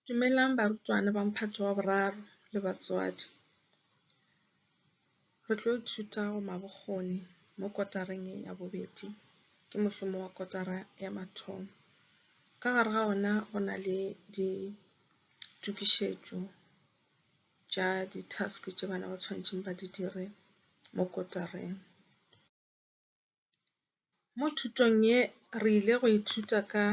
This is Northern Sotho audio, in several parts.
Dumelang barutwana ba Mphato wa Boraro le batswadi. Re tlo ithuta go ma bokgoni mo kotareng ya bobedi, ke mošomo wa kotara ya mathomo. Ka gare ga ona go na le ditukišetšo tša di-task tše bana ba tshwanetseng ba di dire mo kotareng. Mo thutong ye re ile go ithuta ka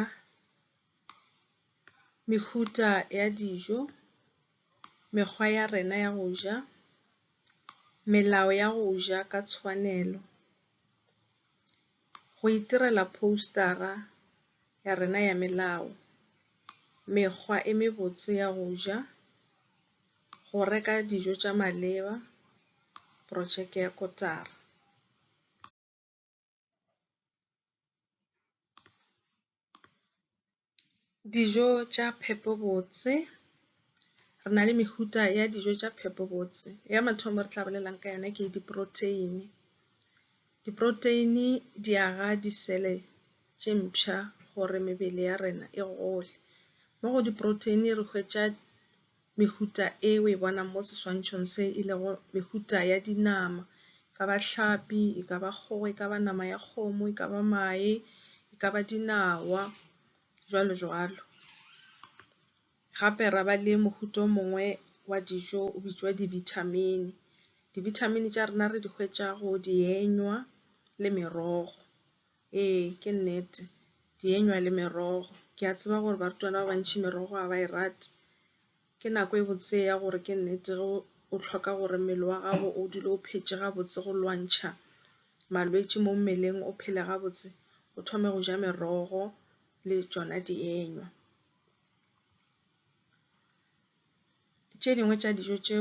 mehuta ya dijo, mekgwa ya rena ya go ja, melao ya go ja ka tshwanelo, go itirela poster-a ya rena ya melao, mekgwa e mebotse ya go ja. go reka dijo tša maleba, projeke ya kotara. Dijo tša phepo botse, re na le mehuta ya dijo tša phepo botse. Ya mathomo re tla bolelang ka yona ke di-protein-e, Diproteini di aga disele tše mpsha gore mebele ya rena e gole. Mo go diproteini re hwetša mehuta e o e bonang mo seswantšhong se e lego mehuta ya dinama, e ka ba hlapi, e ka ba kgogo, e ka ba nama ya kgomo, e ka ba mae, e ka ba dinawa, jwalo jwalo. Gape ra ba le mohuta o mongwe wa dijo o bitšwa dibithamini. Dibithamini tša rena re di hwetša go dienywa le merogo. Ee, ke nnete, dienywa le merogo. Ke a tseba gore barutwana ba bantši merogo ga ba e rate. Ke nako e botse ya gore ke nnete ge o hloka gore mmele wa gago o dule o phetše gabotse go lwantšha malwetši mo mmeleng, o phele gabotse, o thome go ja merogo le tšona dienywa. Tše dingwe tša dijo tše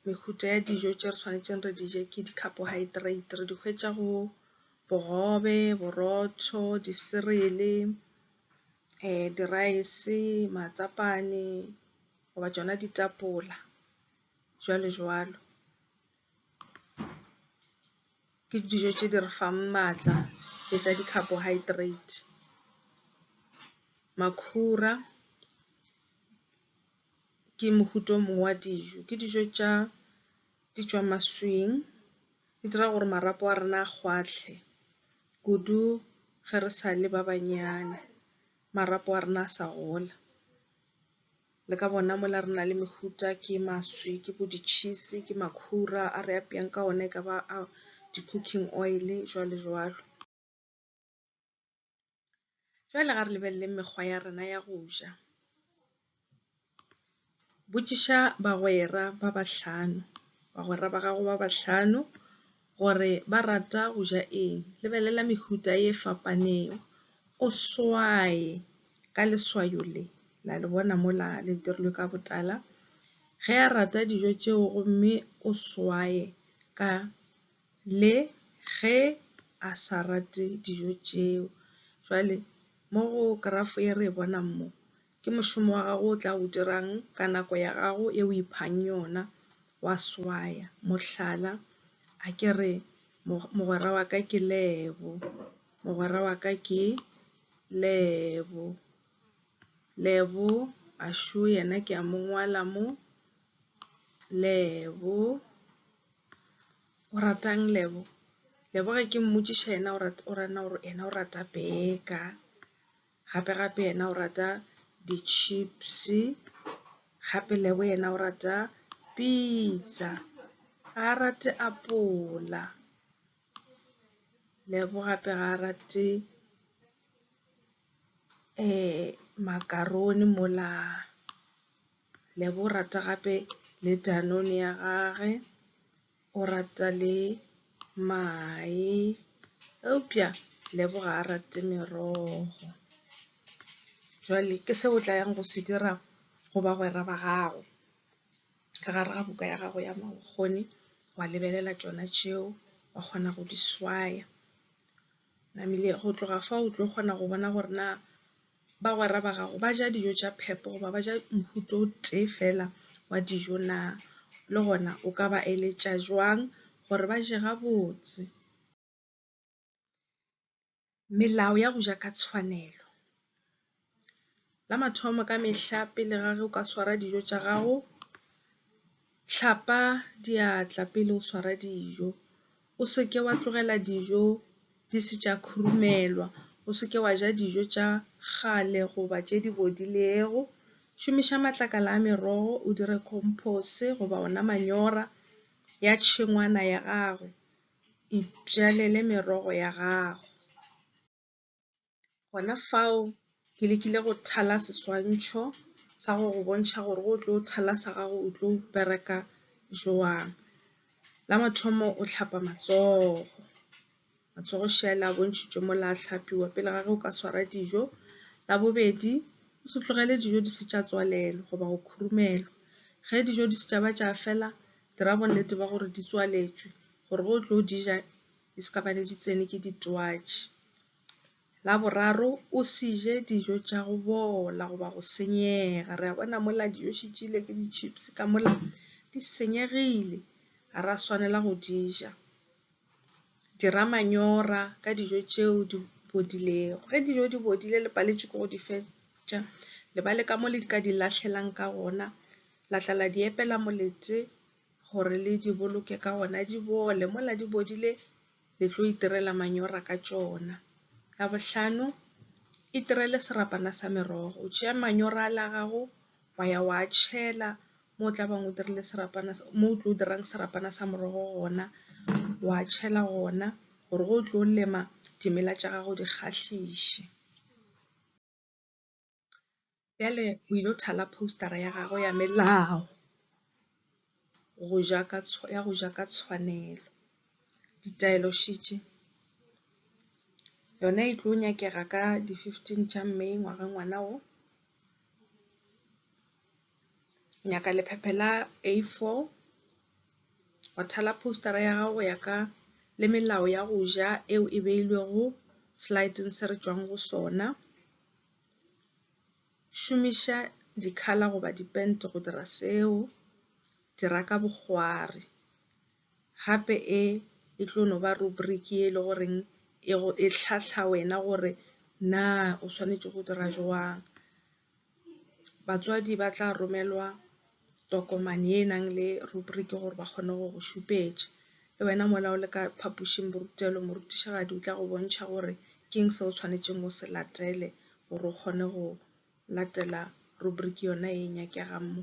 mehuta ya dijo tše re tshwanetseng re di je ke di carbohydrate re di hwetša go bogobe, borotho, di cereal, di rice, matsapane goba tšona ditapole jwalo jwalo. Ke dijo tše di re fang maatla tše tša di-carbohydrate. Makhura ke mohuta o mongwe wa dijo, ke dijo tša di tšwa maswing di dira gore marapo a rena a kgwahle kudu ge re sa le ba banyana marapo a rena a sa gola. Le ka bona mola re na le mehuta ke maswi ke bo di cheese ke makhura a re apeyang ka ona ekaba a di cooking oil jwalo jwalo. Jwale ga re lebeleleng mekgwa ya rena ya go ja. Botšiša bagwera ba bahlano bagwera ba gago ba bahlano. gore ba rata go ja eng. Lebelela mehuta e fapaneng, o swaye ka leswayo le, la le bona mola le dirilwe ka botala. Ge a rata dijo tšeo gomme o swaye ka le ge a sa rate dijo tšeo. Jwale mo go kerafo e re e bonang mo, ke mošomo wa gago o tla o dirang ka nako ya gago e o iphang yona. wa swaya. Mohlala, a ke re, Mogwera wa ka ke Lebo. Mogwera wa ka ke Lebo. Lebo a šo yena ke a mo ngwala mo. Lebo. O ratang Lebo? Lebo ge ke mmotšiša yena o rata, o rana gore yena o rata beka. gape gape yena o rata di chips gape lebo yena o rata pizza ga a rate apola lebo gape ga a rate um makarone mola lebo o rata gape le danone ya gage O rata le mae, eupša Lebo ga a rate merogo. Bjale ke se o tla yang go se dira go bagwera ba gago, ka gare ga buka ya gago ya mabokgoni, wa lebelela tšona tšeo, wa kgona go di swaya. Namile go tloga fao o tlo kgona go bona gore na bagwera ba gago ba ja dijo tša phepo goba ba ja mohuta o tee fela wa dijo na? Le gona o ka ba eletša jwang gore ba je gabotse? Melao ya go ja ka tshwanelo. La mathomo ka mehla pele ga ge o ka swara dijo tša gago, Hlapa diatla pele o swara dijo, o se ke wa tlogela dijo di se tša khurumelwa, o se ke wa ja dijo tša kgale goba tše di bodilego. Šomiša matlakala a merogo o dire khompose goba ona manyora ya tšhengwana ya gago, itšalele merogo ya gago. gona fao ke lekile go thala seswantšho sa go go bontšha gore go tlo thala sa gago o tlo bereka joang. La mathomo o tlhapa matsogo, matsogo šela a bontšhitšwe mo la tlhapiwa pele ga ge o ka swara dijo. La bobedi o se tlogele dijo di se tša tswalelo goba go khurumelwa. Ge dijo di se tša ba tša fela dira bonnete ba gore di tswaletšwe gore ge o tlo di ja di se ka ba ne di tsene ke ditwatši. La boraro o se je dijo tša go bola goba go senyega, re a bona mola dijo še tšile ke di-chips ka mola di senyegile ga ra swanela go di ja. Dira manyora ka dijo tšeo di bodilego, ge dijo di bodile le paletše ke go di fetša le ba le ka mo le ka di lahlelang ka gona la tla la di epela molete. gore le di boloke ka gona di bole mola di bodile le tlo itirela manyora ka tšona ya bohlano itirele serapana sa merogo o tšea manyora a la gago wa ya wa tšhela mo o tla bang o dirile serapana mo o tlo dirang serapana sa morogo gona wa tšhela gona gore go tlo lema dimela tša gago di kgahliše. Bjale o ile go thala poster-a ya gagwe ya melao go ja ka ya go ja ka tshwanelo. Ditaelo she tše yona e tlo nyakega ka di fifteen tša May ngwaga ngwana wo. nyaka lephephe la A4 wa thala poster ya gago ya ka le melao ya go ja eo e beilwego slideng se re tšwang go sona. Šomiša dikhala goba dipent go dira seo, dira ka bokgwari gape e e tlo no ba rubric e le goreng e hlahla wena gore na o swanetše go dira jwang. Batswadi ba tla romelwa tokomane e nang le rubriki gore ba kgone go go šupetša. Le wena mola o le ka phapošing borutelo morutišigadi o tla go bontšha gore ke eng se o tshwanetseng o se latele gore o kgone go latela rubriki yona e nyakegang mo.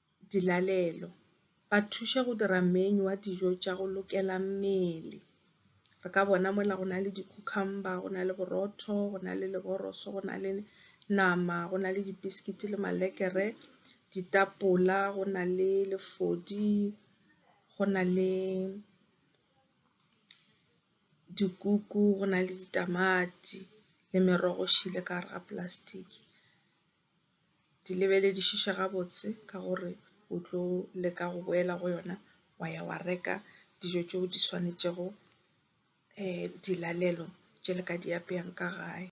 dilalelo, ba thuše go dira menu wa dijo tša go lokela mmele. Re ka bona mola go na le di cucumber, go na le borotho, go na le leboroso, go na le nama, go na le di biscuit le malekere, ditapola, go na le lefodi, go na le dikuku, go na le ditamati le merogo e šele ka gare ga plastic. di lebeledišiše gabotse ka gore o tlo leka go boela go yona wa ya wa reka dijo tšeo di swanetšego dilalelo tše le ka di apeyang ka gae.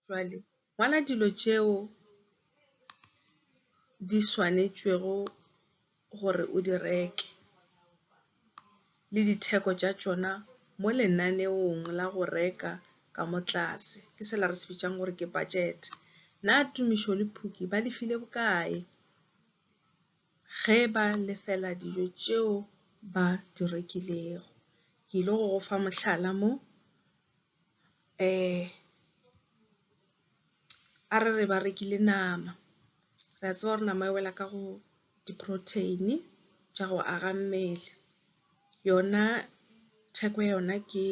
Jwale ngwala dilo tšeo di swanetšwego. gore o di reke le ditheko tša tšona mo lenaneong la go reka ka mo tlase ke sela re se bitšang gore ke budget. Na Tumišo le Phuki ba le file bokae ge ba lefela dijo tšeo ba di rekilego? Ke ile go go fa mohlala mo a re re ba rekile nama, re a tseba gore nama e wela ka go di-protein tša go aga mmele. Yona theko ya yona ke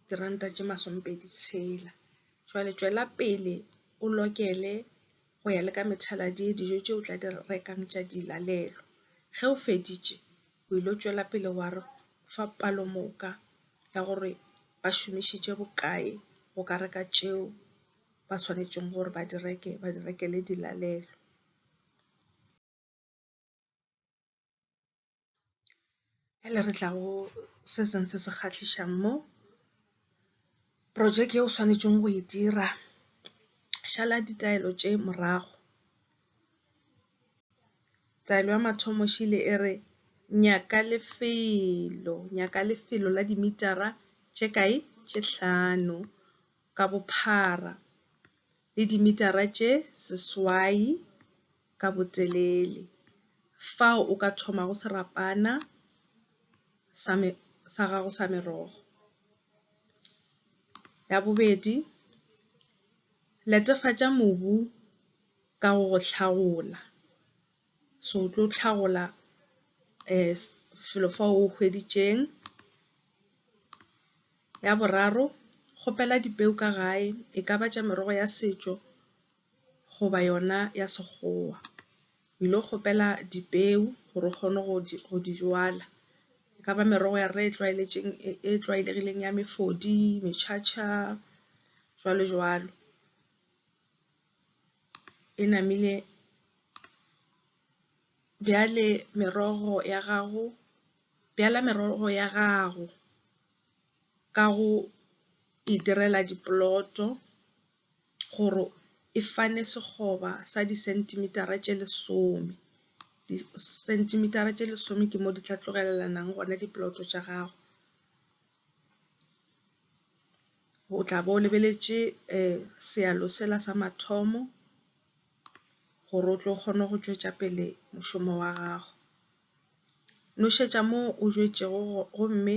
diranta tše masomepedi tshela, jwale tšwela pele o lokele go ya le ka methaladi ye dijo tše o tla di rekang tša dilalelo. Ge o feditše, o ile tšwela pele wa re o fa palomoka ya gore ba šomišitše bokae go ka reka tšeo ba swanetšego gore ba di reke, ba di rekele dilalelo. Bjale re tla go se seng se se kgahlišang mo. Projeke e o swanetšego go e dira, šala ditaelo tše morago. Taelo ya mathomo e šele e re, nyaka lefelo, nyaka lefelo la dimitara tše kae? Tše hlano. ka bophara le dimitara tše seswai ka botelele. Fao o ka thomago serapana sa me sa gago sa merogo. Ya bobedi, netefatša mobu ka go go hlagola. So o tlo hlagola felo fa o hweditšeng. Ya boraro kgopela dipeo ka gae e ka ba tša merogo ya setšo goba yona ya sekgowa. O ile go kgopela dipeo gore o kgone go di jala. E ka ba merogo ya rena e tlwaeletšeng e tlwaelegileng ya mefodi, mechacha jwalo jwalo. e namile bjale merogo ya gago bjala merogo ya gago ka go e direla dipoloto gore e fane sekgoba sa di centimeter-a tše lesome. Di centimeter-a tše lesome ke mo di tla tlogelelanang gona dipoloto tša gago. O tla bo lebeletše sealo sela sa mathomo gore o tlo kgone go tšwetša pele mošomo wa gago. Nošetša mo o jwetšego gomme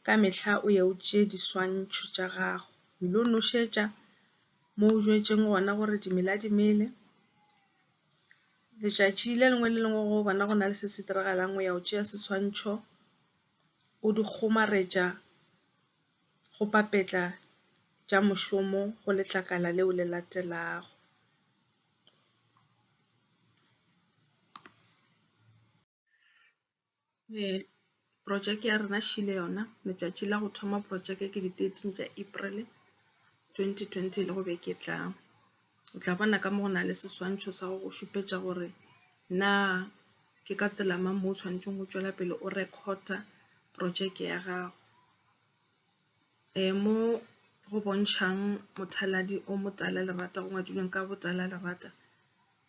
ka mehla o ye o tšee diswantšho tša gago. O ile go nošetša mo o jwetšeng gona gore dimela di mele. Letšatši le lengwe le lengwe ge o bona go na le se se diragalang o ya o tšea seswantšho. o di kgomaretša go papetla tša mošomo go letlakala leo le latelago. Projeke ya rena šele yona, letšatši la go thoma projeke ke di thirteen tša April twenty twenty le go beke e tlang. O tla bona ka mo go na le seswantšho sa go go šupetša gore na ke ka tsela mang mo o tshwanetseng go tšwela pele o rekhota projeke ya gago. E mo go bontšhang mothaladi o motala lerata go ngwadilweng ka botala lerata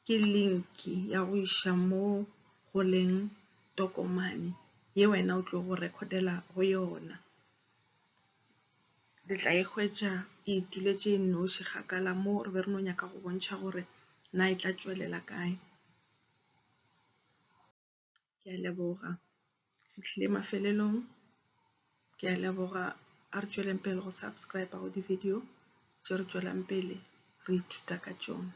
ke link ya go iša mo go leng tokomane ye wena o tlo go rekhodela go yona. re tla e hwetša e ituletše e nnoši kgakala mo re be re no nyaka go bontšha gore na e tla tšwelela kae. Ke a leboga. Fihlile mafelelong. Ke a leboga. A re tšweleng pele go subscribe go di-video tše re tšwelang pele re ithuta ka tšona.